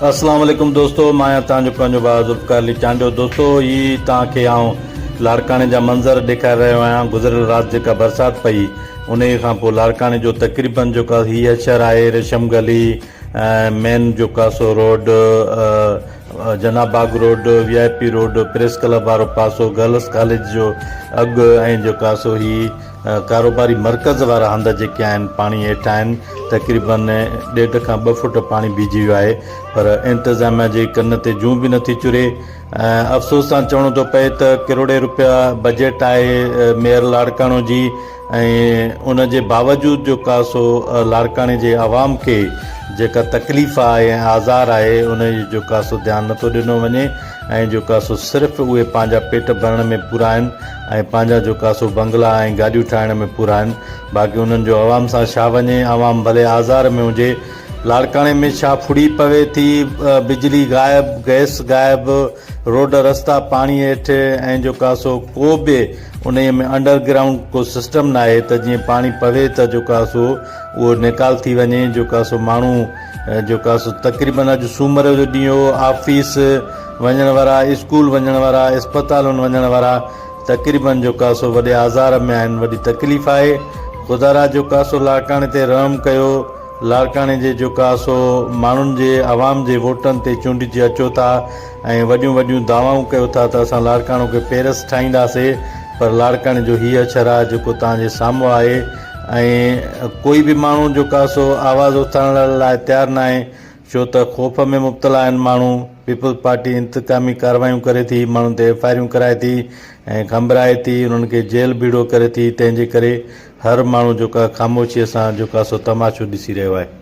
اسلام عليڪم دوستو مان آهيان توهان جو پنهنجو ڀاء ذوالفقار علي چانڊيو دوستو هي توهان کي آئون لاڙڪاڻي جا منظر ڏيکاري رهيو آهيان گذريل رات جيڪا برسات پئي انهي کان پوء لاڙڪاڻي جو تقريبن جو ڪا هي اشر آهي ريشم گلي مين جو ڪاسو روڊ جناب باغ road V I P road press club وارو پاسو گرلس ڪاليج جو اڳ ۽ جو ڪاسو هي ڪاروباري مرڪز وارا هنڌ جيڪي آهن پاڻي هيٺ آهن تقريبن ڏيڍ کان ٻه فوٽ پاڻي بيهجي ويو آهي پر انتظاميا جي ڪن تي جون به نٿي چري افسوس سان چوڻو ٿو پئي ته ڪروڙين روپيا بجيٽ آهي ميئر لاڙڪاڻو جي ۽ ان جي باوجود جو ڪا سو لاڙڪاڻي جي عوام کي جيڪا تڪليف آهي ۽ آزار آهي ان جو ڪا سو ڌيان نٿو ڏنو وڃي ۽ جو ڪا سو صرف اهي پنهنجا پيٽ ڀرڻ ۾ پورا آهن ۽ پنهنجا جو ڪا سو بنگلا ۽ گاڏيون ٺاهڻ ۾ پورا آهن، باقي انهن جو عوام سان ڇا وڃي، عوام ڀلي آزار ۾ هجي، لاڙڪاڻي ۾ ڇا ڦڙي پوي ٿي، بجلي غائب، گئس غائب، روڊ رستا پاڻي هيٺ ۽ جو ڪا سو ڪو به انهيء ۾ انڊر گرائونڊ ڪو سسٽم ناهي ته جيئن پاڻي پوي ته جو ڪا سو اهو نيڪال ٿي وڃي، جو ڪا سو ماڻهو. جيڪا سو تقريبن اڄ سومر جو ڏينهن هو، آفيس وڃڻ وارا، اسڪول وڃڻ وارا، اسپتالن وڃڻ وارا تقريبن جيڪا سو وڏي آزار ۾ آهن، وڏي تڪليف آهي، خدا را جيڪا سو لاڙڪاڻي تي رحم ڪيو، لاڙڪاڻي جي جيڪا سو ماڻهن جي عوام جي ووٽن تي چونڊجي اچو ٿا ۽ وڏيون وڏيون دعوائون ڪيو ٿا ته اسان لاڙڪاڻو کي پيرس ٺاهينداسي پر لاڙڪاڻي جو هي اڇر آهي جيڪو توهان جي سامهون آهي، ۽ ڪوئي به ماڻهو جو ڪا سو آواز اٿارڻ لاء تيار ناهي ڇو ته خوف ۾ مبتلا آهن ماڻهو، پيپلز پارٽي انتقامي ڪارروايون ڪري ٿي، ماڻهن تي ايف آء آريون ڪرائي ٿي ۽ کنڀرائي ٿي، انهن کي جيل ڀيڙو ڪري ٿي، تنهن جي ڪري هر ماڻهو جو ڪا خاموشيء سان جو ڪا سو تماشو ڏسي رهيو آهي.